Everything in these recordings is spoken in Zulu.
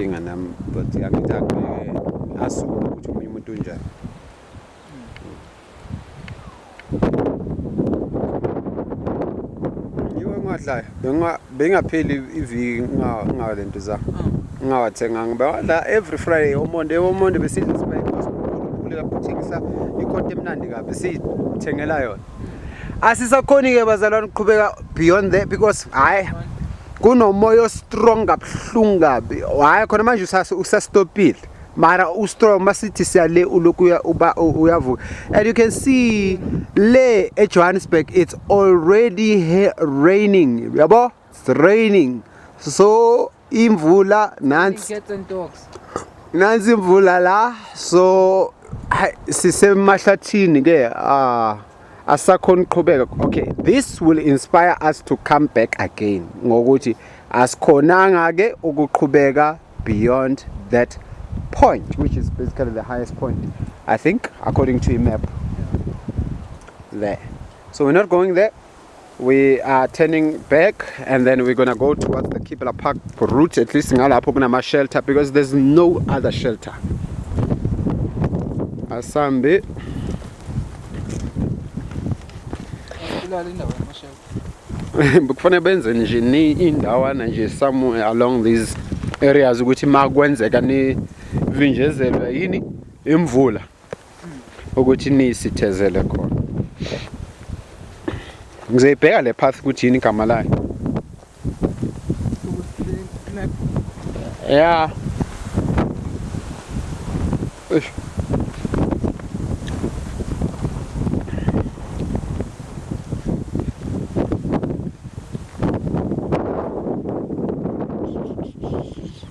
inkinga nami but angithi agxeke asuke ukuthi omunye umuntu unjani yiwe ngadlayo bengapheli iviki ngale nto zami oh. ngingawathenganga bewadla every friday omonde omonde besidla sibayikhosi ukhuleka futhi ngisa ikhonto emnandi kabi siyithengela yona asisakhoni ke bazalwane uqhubeka beyond there because hayi kunomoya ostrong kabuhlungu kabi hayi khona manje usastopile mara ustrong masithi siyale ulokhu uba uyavuka and you can see le ejohannesburg it's already raining yabo it's raining so imvula nansi nansi imvula la so sisemahlathini ke ah asakhona uqhubeka okay this will inspire us to come back again ngokuthi asikhonanga ke ukuqhubeka beyond that point which is basically the highest point i think according to a map there so we're not going there We are turning back and then we're gonna go towards the Kibela Park route at least ngalapho kunama shelter because there's no other shelter. Asambe. Kufanele benze nje ni indawana nje somewhere along these areas ukuthi makwenzeka ni vinjezelwe yini imvula. ukuthi niyisithezele khona ngizoyibheka le path ukuthi yini igama layo ya Thank you.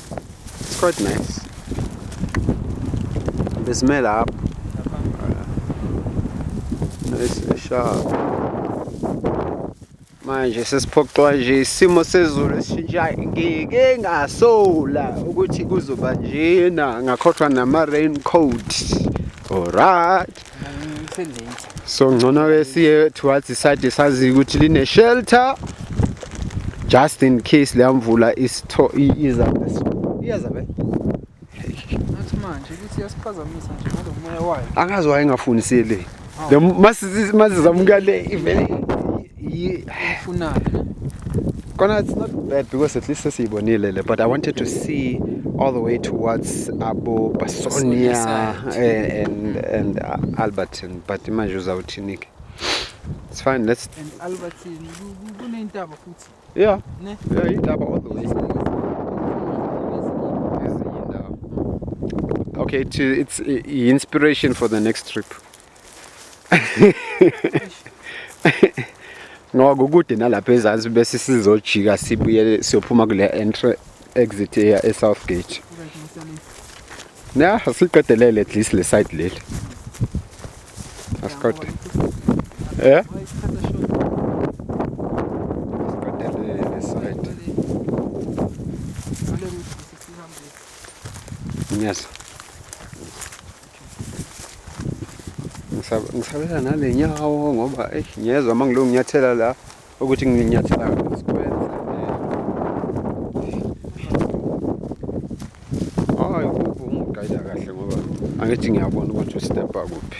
It's quite nice. The smell up. Nice sharp. Manje sesiphoxwa nje isimo sezulu esishintshayo ngike ngasola ukuthi kuzoba njena ngakhohlwa nama raincoat. Alright. so ngcono ke siye towards iside sazi ukuthi line shelter just in case leya mvula isitho iza iyaza be nathi manje ukuthi yasiphazamisa nje ngalomoya wayo angazi wayengafundisele le masizamukele ivele ifunayo Kona, it's not bad because at least sesiyibonile but i wanted to see all the way towards abo basonia eh, and, and uh, alberton but manje uzawuthini ke it's fine let's and alberton kuneyintaba futhi yeah ne yeah intaba all the way okay it's, it's inspiration for the next trip ngoba kude nalapha ezansi bese sizojika sibuyele siyophuma kule entry exit eya e-south gate na siqedelele at least le side leli asiqede eh asiqedelele le side yes ngisabela nale nyawo ngoba eyi ngiyezwa uma ngilungu nginyathela la ukuthi nginyathela sikwenze hayi kuphi ungigayida kahle ngoba angithi ngiyabona ukuthi ustebha kuphi